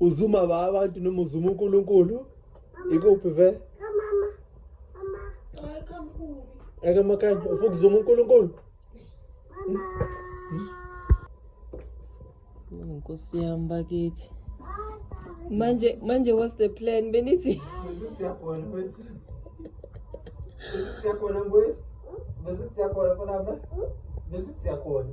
uzuma ba abantu noma uzuma uNkulunkulu ikuphi ve kamama mama hayi kamkhulu akamakanye ufuna ukuzuma uNkulunkulu mama nkosi yami bakithi manje manje what's the plan benithi besithi yakhona mfethu besithi yakhona mfethu besithi yakhona khona besithi yakhona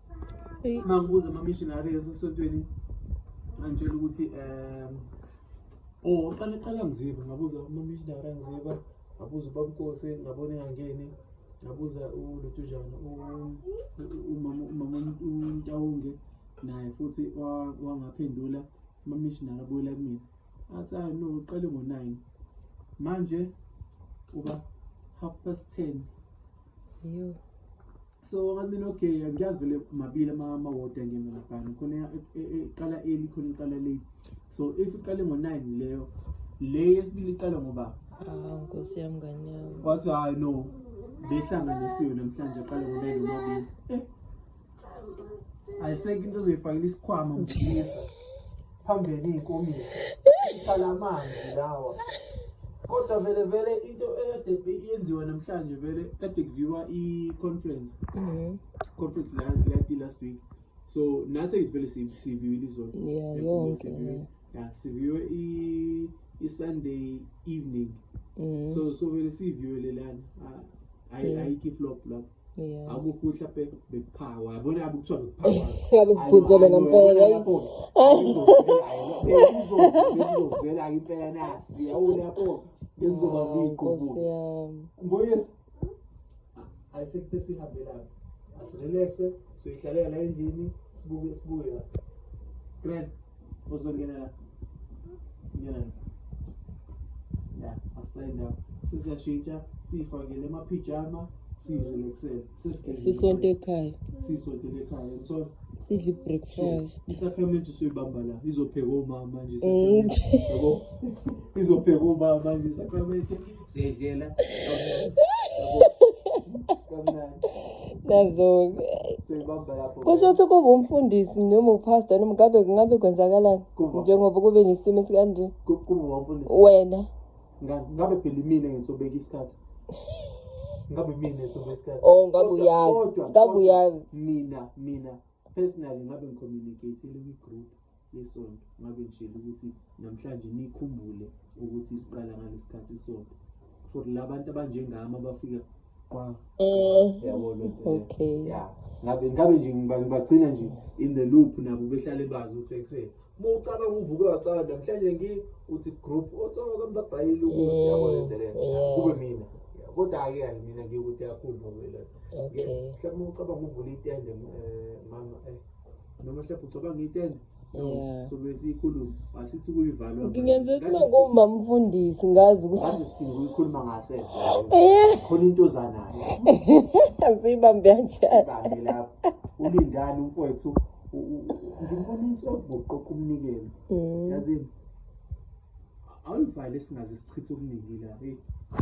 mangibuza ama-missionary esesontweni angitshela ukuthi um o oh, qala qala mziba ngabuza ama-missionary angiziba ngabuza ubabukose ngabona engangeni ngabuza ulutujana umama untawunge naye futhi wangaphendula ama-missionary abuyela kumina athi hayi no uqale ngo-nine manje uba half past ten Yo. so ngathi mina okay ngiyazi vele mabili amawodi angena laphana khona iqala e, e, early khona iqala late so if iqale ngo-nine leyo le yesibili iqala ngoba ah, nkosi yam ngane yam wathi hayi no behlanganisiwe namhlanje aqale ngo-nine omabili eh ayisekho into ozoyifakela isikhwama mfisa phambili iy'nkomiso ithala amanzi lawa kodwa vele vele into ekade yenziwa namhlanje vele kade kuviwa i-conference Mhm. conference la lati last week so nathi vele si- siviwile izolo Yeah, Yebo, yonke, siviwe. yeah. Yeah, siviwe i- i-sunday evening Mhm. so so vele siviwele lana Ah, ayi- ayikho i-flop lapho Yeah. akukuhle be- bekuphawa yabona yabe kuthiwa bekuphawa Yabe siphuzele Ayo, ayo, ngempela. yabona lapho. Bekuzovela impela nasi yabona lapho bekuzoba Hawu, Nkosi ngiqubule yami. ngoyes ayisekuthe sihambe lapho asirelaxe siyoyihlalela endlini sibuke sibuye la grand uzongena la ngena la ya asenda sisiyashintsha siyifakele amaphijama siyirelaxele sisonto ekhaya siyisontele ekhaya mthola sidle i-breakfast isakramente soyibamba la izopheka umama nje mm. yabo izopheka umama nje isakramente Siyedlela. Nazo-ke. Soyibamba lapho. Kusho ukuthi kuba umfundisi noma upastor noma ngabe kungabe kwenzakalani Kuba. njengoba kube nesimo esikanje Ku- Kuba wamfundisi. wena Nga- Ngabe phela imina ngitsobeka isikhathi. Ngabe imina ngitsobeka isikhathi. Oh, ngabe Kodwa- uyazi. kodwa- Ngabe kodwa uyazi. Mina, mina personally ngabe ngicommunicateile kwi-group. yesonto ngabe ngishela ukuthi namhlanje nikhumbule ukuthi liqala ngalesikhathi isonto for labantu abanjengami abafika qwa eh yabo lo okay yeah ngabe ngabe nje ngibagcina nje in the loop nabo behlale bazi ukuthi ekuseni uma ucabanga uvuke wacabanga namhlanje ngi uthi group otsonga kwambabhayile ukuthi mm, yabo lento le kube mina kodwa ake hayi mina ngikude kakhulu ngoba lento mhlawumbe ucabanga uvula itende eh, mama eh noma mhlawumbe ucabanga itende ngingenze sinokumba mfundisi ngazi ukuthikhuluma ngasese eh. khona into ozanayo asiyibambe kanjani lapho ulindani umfowethu ngimbona inhloko ngokuqoqa umnikelo mm. yazini awuyivale singaze sichithe okuningi la eyi